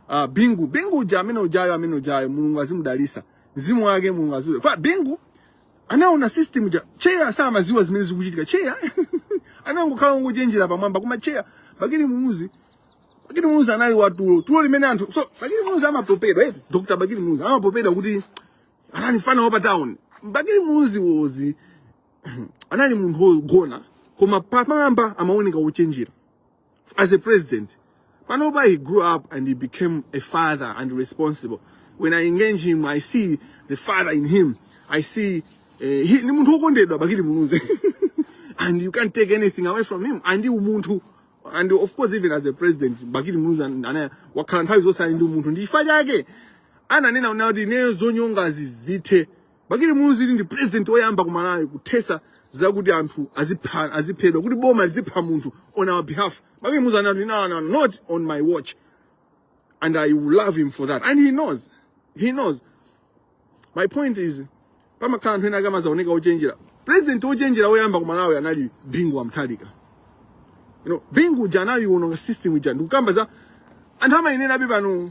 Ah, Bingu, Bingu uja amene ujayo amene ujayo Mulungu azimudalisa. Mzimu wake Mulungu azule. Kwa Bingu anaona system ja chair samaziwa zimene zikuchitika. Chair anangokhala ngochenjera pamwamba koma chair Bakili Muluzi Bakili Muluzi anali watulo. Tulo limene anthu so Bakili Muluzi amapopedwa eti Dr. Bakili Muluzi amapopedwa kuti anali mfana wa pa town. Bakili Muluzi was anali munthu wogona koma pamwamba amaoneka wochenjera. as a president. Panoba, he grew up and he became a father and responsible. When I engage him, I see the father in him. I see uh, he, and you can't take anything away from him. And you umuntu and of course even as a president Bakili Muluzi anaya wakhala nthawi zonse ali ndi umuntu ndi chifukwa chake ananena kuti ne zonyongazi zithe Bakili Muluzi ndi president oyamba ku Malawi kuthesa zakuti anthu azipha aziphedwa kuti boma lizipha munthu on our behalf. Bakili Muluzi anati no no not on my watch and I will love him for that and he knows he knows my point is pamakhala anthu ena akamazaoneka ochenjera president ochenjera oyamba ku Malawi anali Bingu wa Mutharika you know Bingu uja anali wononga system ija ndikukamba za anthu amayenera abe pano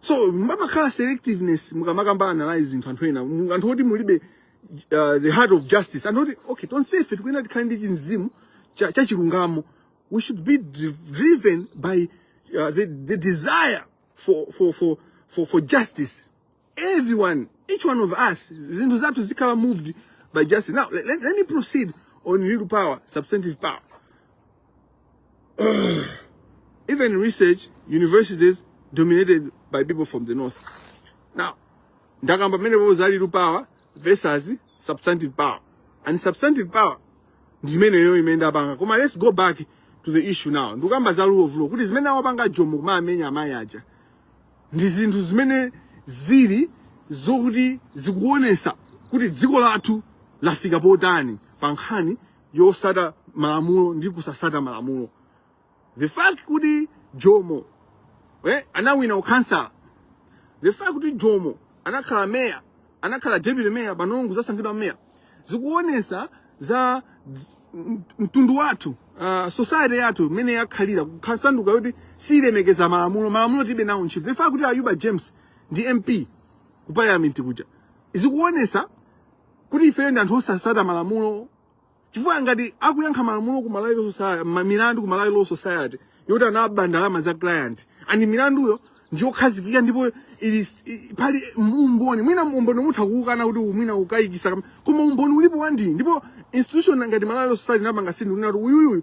so mumakhala selectiveness mukamapanga analyze zinthu anthu ena mu- anthu oti mulibe uh, the heart of justice anthu oti okay tonsefe tikuyenera tikhale ndi chimzimu cha, cha chilungamo we should be dri- driven by uh, the, the desire for, for, for, for, for justice everyone each one of us zinthu zathu zizikhala moved by justice now let, let, let me proceed on real power substantive power even research universities dominated by people from the north now ndakamba mmenepo za real power versus substantive power and substantive power ndimeneyo imene ndapanga koma let's go back to the issue now ndikukamba za rule of law kuti zimene awapanga jomo kumawamenya amayi aja ndi zinthu zimene zili zokuti zikuonesa kuti dziko lathu lafika potani pa nkhani yosata malamulo ndi kusasata malamulo the fact kuti jomo eh, anawina ukhansala the fact kuti jomo anakhala meya anakhala deputy mayor panonso kuzasankhidwa mayor zikuonesa za dz- m- mtundu wathu uh, society yathu imene yakhalira kusanduka yoti siyilemekeza malamulo malamulo tilibe nawo ntchito the fact kuti ayuba james ndi mp ku parliament kuja zikuonesa kuti ifeyo ndi anthu osasata malamulo chifukwa ngati akuyankha malamulo ku Malawi Law Society ma- milandu ku Malawi Law Society yoti anaba ndalama za client and milanduyo ndiyokhazikika ndipo ili s- i- pali umboni mwina umboni mutha kuukana kuti mwina ukukayikitsa kam- koma umboni ulipo wandi ndipo institution ngati Malawi Law Society napanga sindi unati uyuyu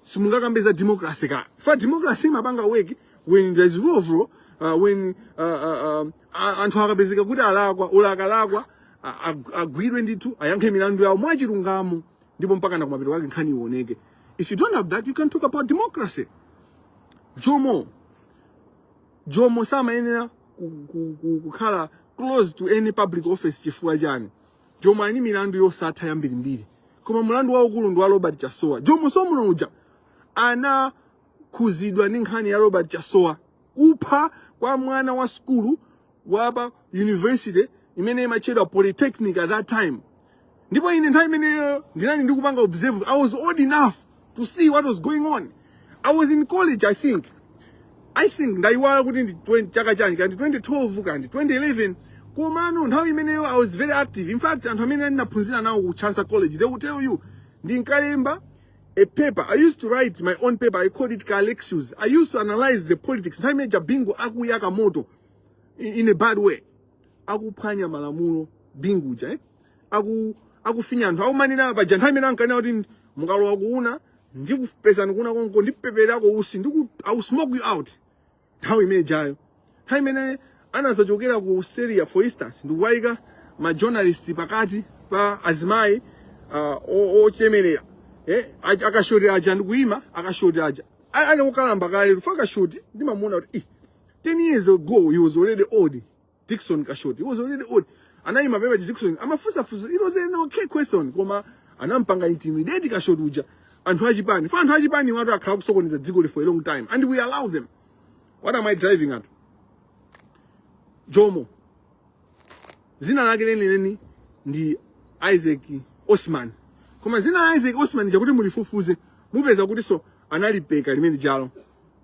simungakambe za democracy chifukwa democracy imapanga work when there is rule of law uh, when uh, uh, um, a- anthu akapezeka kuti alakwa olo akalakwa a- ag- agwidwe ndithu ayankhe milandu yawo mwachilungamo ndipo mpaka na kumapeto kwake nkhani ioneke if you don't have that you can't talk about democracy jomo jomo samayenera ku- ku- ku- kukhala close to any public office chifukwa chani jomo ali ndi milandu yosatha yambirimbiri koma mlandu waukulu ndi wa robert chasowa jomo so mnoja anakhuzidwa ndi nkhani ya robert chasowa kupha kwa mwana wa skulu wapa university imene imatchedwa polytechnic at that time ndipo ine nthawi imeneyo ndinali ndikupanga observe i was old enough to see what was going on. I was in college, I think. I think ndaiwala kuti ndi 20 chaka chani kandi 2012 kandi 2011 komano nthawi imeneyo I was very active. In fact, anthu amene ndinaphunzira nawo ku Chancellor College, they will tell you ndinkalemba a paper. I used to write my own paper. I called it Kalexius. I used to analyze the politics. Nthawi imene ija Bingu akuyaka moto in, in a bad way. Akuphwanya malamulo Bingu uja, eh? aku akufinya anthu akumanena paja nthawi imene ankanena kuti mukalowa ku una ndikupezani ku una konko ndipeperako utsi ndiku I will smoke you out nthawi imene ijayo nthawi imene anazachokera ku Australia for instance ndikuwayika ma journalist pakati pa azimayi uh, o- ochemerera eh, a- a Kashoti aja ndikuyima a Kashoti aja A- ali okalamba kale paja a Kashoti ndimamuona kuti "Ih, 10 years ago he was already old Dickson Kashoti. He was already old. Anaima pamene Dickson amafunsa funsa. It was an okay question koma anampanga intimidate Kashoti uja. Anthu achipani. Paja anthu achipani awatu akhala akusokoneza dzikoli for a long time and we allow them. What am I driving at? Jomo. Dzina lake lenileni ndi Isaac Osman. Koma dzina la Isaac Osman lijatu mulifufuze mupeza kutinso analipeka limene lijalo.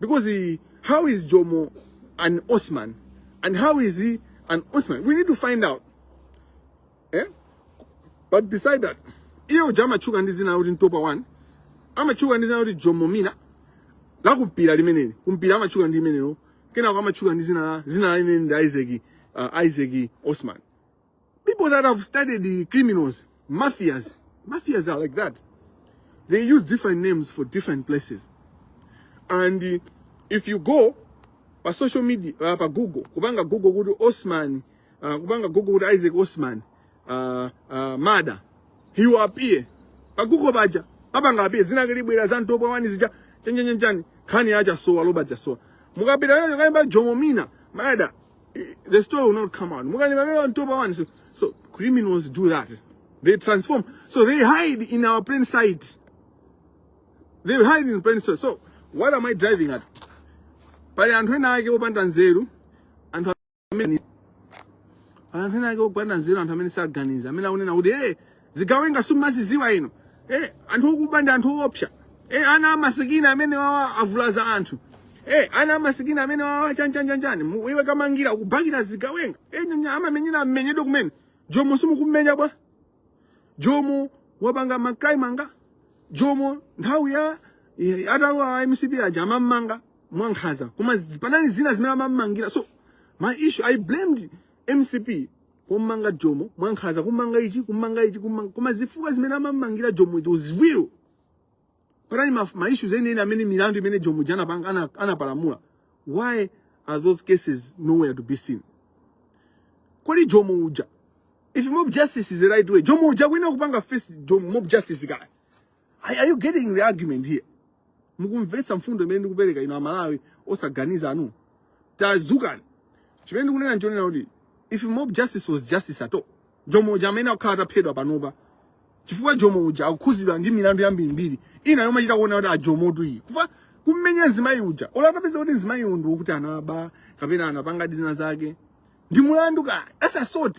Because he, how is Jomo an Osman? And how is he an Osman? We need to find out. Eh? But beside that, uyo uja amatchuka ndi dzina loti Ntopwa one amatchuka ndi dzina loti Jomo ndi dzina la kumpira limeneli kumpira amatchuka ndi limenelo kenako amatchuka ndi dzina la dzina limene ndi isaac uh, isaac osman People that have studied the criminals, mafias, mafias are like that. They use different names for different places. And uh, if you go pa social media, uh, pa Google, kubanga Google kudu Osman, uh, kubanga Google kudu Isaac Osman, uh, uh, mada, he will appear. Pa Google baja, pabanga appear, zina kilibwira zantopo wani zija, chenjenjenjani, khani aja sowa, loba aja sowa. Mukapita yoyo kaimba jomomina, mada, the story will not come out. Ntopwa one, so, so criminals do that. They transform. So they hide in our plain sight. They hide in plain sight. So what am I driving at? Pali anthu ena ake opanda nzeru, anthu amene anthu ena ake opanda nzeru, anthu amene saganiza, amene akunena kuti eh zigawenga simumazidziwa inu eh, anthu okuba ndi anthu oopsa eh, ana amasikini amenewawa avulaza anthu eh, ana amasikini amenewawa chanichanichani Mu- iwe Kamangila ukubakira zigawenga eh, nyanya amamenyera amenyedwe kumene jomo simukummenya bwanji Jomo wapanga makani kummanga jomo nthawi ya eh, atawa a mcp aja amammanga mwankhaza koma zi- panali zina zimene amammangira so my issue i blamed mcp kumanga jomo mwankhaza kumanga ichi kumanga ichi koma zifukwa zimene amamangira jomo it was real panani ma, ma issues enieni amene milandu imene jomo uja anapanga ana- anapalamula why are those cases nowhere to be seen kodi jomo uja if mob justice is the right way jomo uja kuyenera kupanga face mob justice kaya Are are you getting the argument here? Mukumvetsa mfundo imene ndikupereka inu amalawi osaganiza inu. Tazukani. Chimene ndikunena nchonena kuti if mob justice was justice at all, Jomo uja amenewa akanakhala ataphedwa panopa chifukwa Jomo uja akukhuzidwa ndi milandu yambirimbiri ina yomwe achita kuona kuti ajomotu iyi kuja kummenya mzimayi uja ola atapeza kuti mzimayi uyu ndi wokuti anaba kapena anapanga zinazake ndi mulandu ka that's assault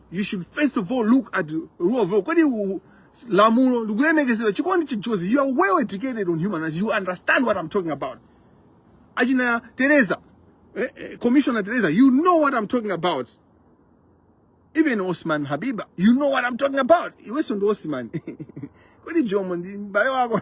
you should first of all look at rule of law kodi u- lamulo likulemekezedwa chikondi chijozi you are well educated on human rights you understand what i'm talking about achina teresa eh, eh, commissioner teresa you know what i'm talking about even osman habiba you know what i'm talking about iwenso ndi osman kodi jomo ndi m'bale wako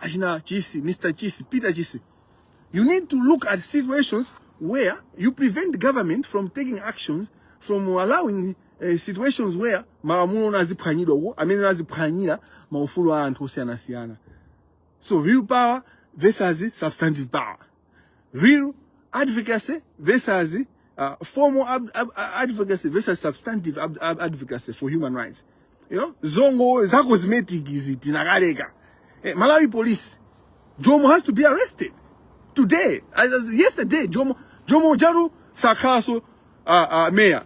achina chisi mr chisi peter chisi you need to look at situations where you prevent government from taking actions from allowing uh, situations where malamulo naziphwanyidwa komwe naziphwanyira maufulu a anthu osiyanasiyana so real power versus substantive power real advocacy versus uh, formal ab ab advocacy versus substantive ab ab advocacy for human rights you know zongo za cosmetic izi tinakaleka eh, malawi police jomo has to be arrested today as, as yesterday jomo jomo jaru sakhaso uh, uh, mayor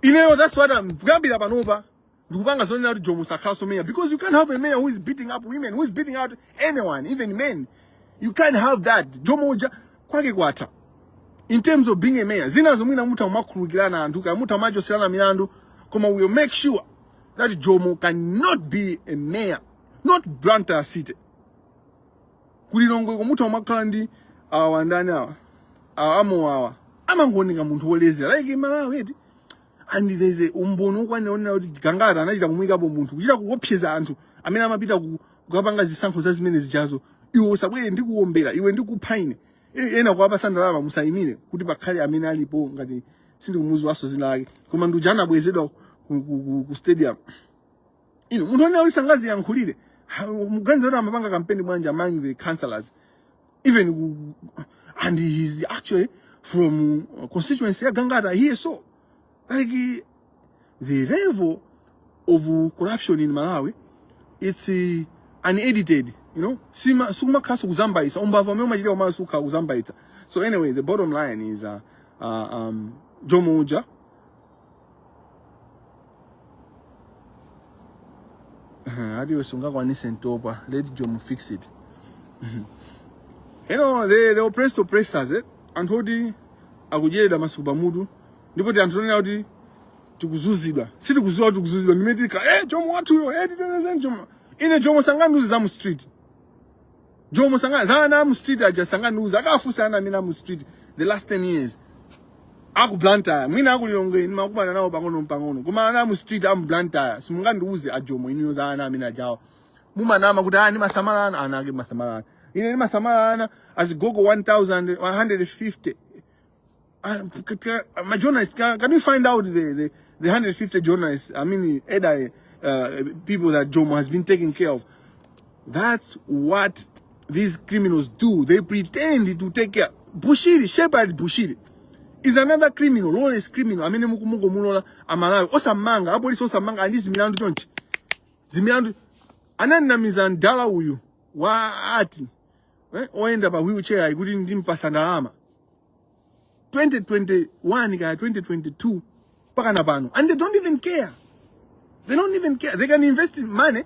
ineyo that's what I'm kuyambira panopa ndikupanga zonena kuti jomo sakhalanso mayor because you can't have a mayor who is beating up women who is beating out anyone even men you can't have that jomo uja kwake kwatha in terms of being a mayor zinazo mwina mutha kumakhululukirana anthu ka mutha kumachoserana milandu koma we will make sure that jomo cannot be a mayor not blantyre city kulilongwe ko mutha kumakhala ndi awa ndani awa awa amenewawa amangooneka munthu wolezera like malawi eti and there's a umboni wokwanira onena kuti gangata anachita kumuyikapo munthu kuchita kuopseza anthu amene amapita ku- kukapanga zisankho za zimene zijazo iwe usabwere ndikuwombera iwe ndikupha ine E- ena kuwapasa ndalama musayimire kuti pakhale amene alipo ngati sindikumuziwaso dzina lake koma ndi uja anabweretsedwa ku, ku, ku, ku stadium ino munthu onena kuti sangadziyankhulire Ha, mukuganiza kuti amapanga kampeni bwanji among the councillors even and he's actually from uh, constituency ya Gangata here so like the level of corruption in Malawi it's uh, unedited you know sima suma kasu kuzambaisa umbava umwe umachita umasuka kuzambaita so anyway the bottom line is uh, uh, um, Jomo Uja ati iwe sungakwanise ndatopa let jomo fix it you know the, the oppressed oppressors eh? anthu oti akudyeredwa masuku pamutu ndipo ndi anthu onena kuti tikuzuzidwa sitikuziwa kuti tikuzuzidwa n'kumati ka eh, jomo wathuyo eh, titetezeni jomo ine jomo sangandiuze za mu street jomo sanga za ana mu street aja sangandiuze akafunse ana amene aja amu street the last 10 years aku Blantyre mwina aku Lilongwe nimakumana nawo pang'ono pang'ono koma ana amu street amu Blantyre simungandiuze ajomo ineyo za ana amene ajawa mumanama kuti amasamala ana ana ake amasamala ana ine nimasamala ana azigogo 1000 150 Um, c- c- c- my journalist, can, can you find out the, the, the 150 journalists, I mean, either uh, people that Jomo has been taking care of? That's what these criminals do. They pretend to take care. Bushiri, Shepherd Bushiri, is another criminal, lawless criminal. I mean, mukumungo mulola amalawi osamanga apolisi osamanga andi zimilandu chonchi zimilandu anandinamiza mdala uyu wa ati eh, oyenda pa wheelchair kuti ndimpasa ndalama 2021 kaya 2022 mpaka na pano and they don't even care they don't even care they can invest in money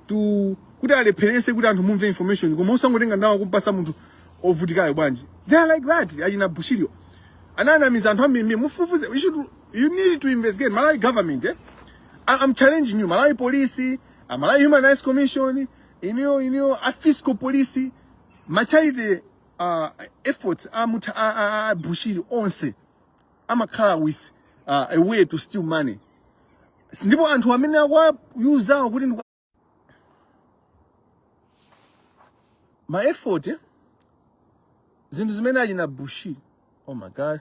to kuti alepherese kuti anthu mumve information koma usangotenga ndalama kumpasa munthu ovutikayo bwanji they are like that achina bushirio ananamiza anthu ambiri mufufuze you should you need to investigate malawi government eh? I- i'm challenging you malawi police a malawi human rights commission iniyo iniyo a fiscal police machai uh, efforts a mutha a bushiri onse amakhala with uh, a way to steal money S- ndipo anthu amene akuwayuzawo kuti ndi ma effort eh, zinthu zimene achina bushiri oh my god